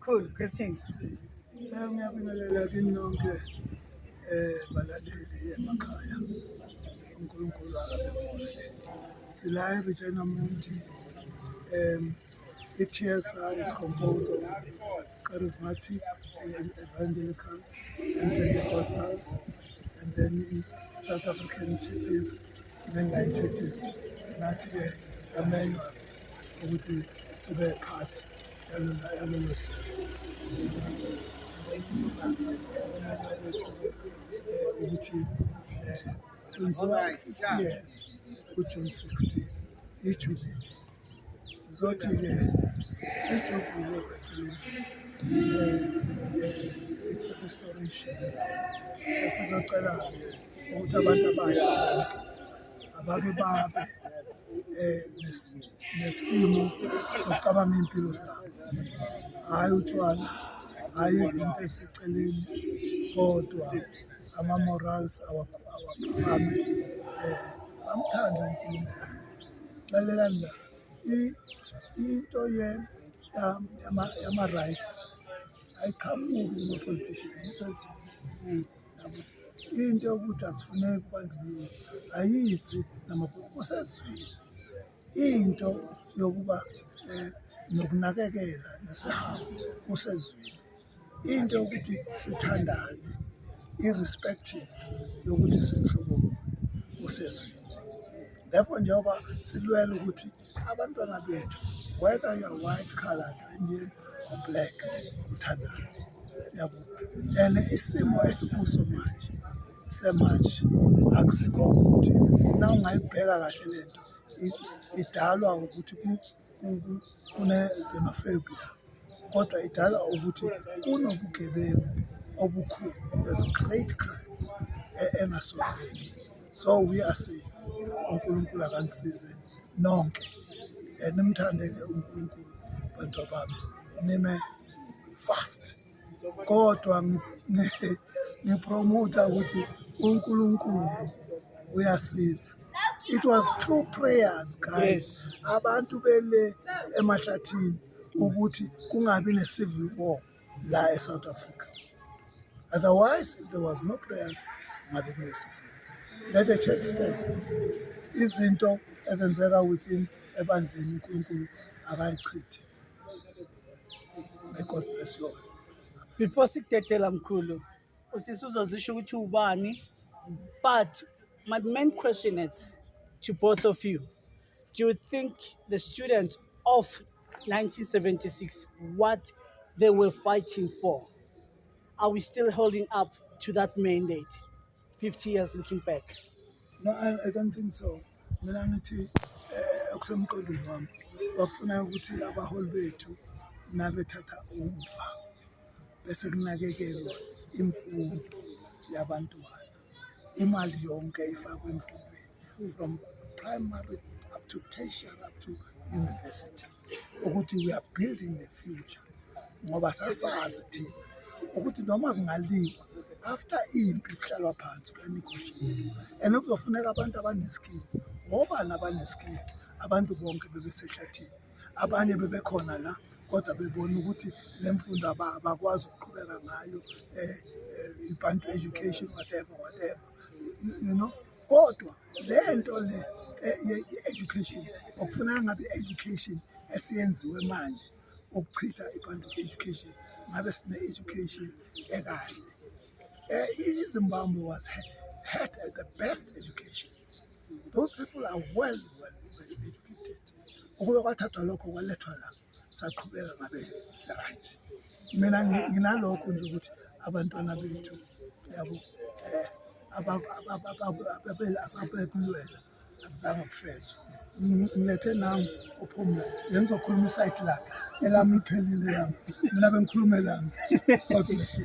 Cool, greetings. Eh, ngiyabingelela kini nonke eh balaleli emakhaya. uNkulunkulu akabemuhle. Sila eRegina Mundi. Um, i-TSA is composed of charismatic, evangelical, and Pentecostals, and then South African churches, mainline churches. Nathi-ke samenywa ukuthi sibe part ukuthi kwenziwa 50 years kujune 16 ijubile sizothi-ke ijubile i-restoration sesizocela-ke ukuthi abantu abasha bonke abake babe eh, nesimo sokucabanga iy'mpilo zabo hhayi utshwala hhayi izinto eseceleni kodwa ama-morals awaphakame um bamthande unkulunkulu lalelani la into yama-rights ayiqhamuki kuma-politician isezulu into yokuthi akufuneki ubandlululo ayizi namabhuku kusezwile into yokuba um nokunakekela nesihambo kusezwile into yokuthi sithandane irrespective yokuthi simhlobo muni kusezwile therefore njengoba silwela ukuthi abantwana bethu whether you are white colored indian or black uthandana yabo and isimo esikuso manje semanje akusikho ukuthi na ungayibheka kahle lento idalwa ukuthi kunezemafebia kodwa idala ukuthi kunobugebengu obukhulu as great crime e-, engasondeki so we are saying unkulunkulu akanisize nonke eh, nimthande-ke unkulunkulu bantu abami nime fast kodwa ngipromotha ukuthi unkulunkulu uyasiza it was two prayers guys abantu bele emahlathini ukuthi kungabi ne-civil war la e-south africa otherwise if there was no prayers ngabe kune-civil war let the church stand izinto ezenzeka within ebandleni unkulunkulu akayichithe may god bless you all before sikudedela mkhulu usisi uzozisho ukuthi ubani but my main question is to both of you Do you think the students of 1976 what they were fighting for? Are we still holding up to that mandate 50 years looking back? No, I, I don't think so. Mina ngithi eh, okusemqondweni wami bakufuna ukuthi abaholi bethu nabethatha ufa bese kunakekelwa imfundo yabantwana. imali yonke ifakwe emfundweni from primary up to tertiary up to university ukuthi we are building the future ngoba sasazi thina ukuthi noma kungaliwa after impi kuhlalwa phansi kuyanegoshiyelwa and kuzofuneka abantu abaneskill wobani abaneskill abantu bonke bebesehlathini abanye bebekhona la kodwa bebona ukuthi le mfundo abakwazi ukuqhubeka ngayo um ibantu education whatever whatever you know kodwa le nto le eh, ye-education okufuneka ngabe i-education esiyenziwe manje ukuchitha ibantu education ngabe sine-education ekahle um izimbabwe was had the best education those people are well well, well educated ukube kwathathwa lokho kwalethwa la saqhubeka ngabe si-right mina nginalokho nje ukuthi abantwana bethu yabo um ababekulwela akuzange kufezwe ngilethe nami uphumla yena uzokhuluma isayidi lakhe elami liphelile yami mina bengikhuluma elami god bless you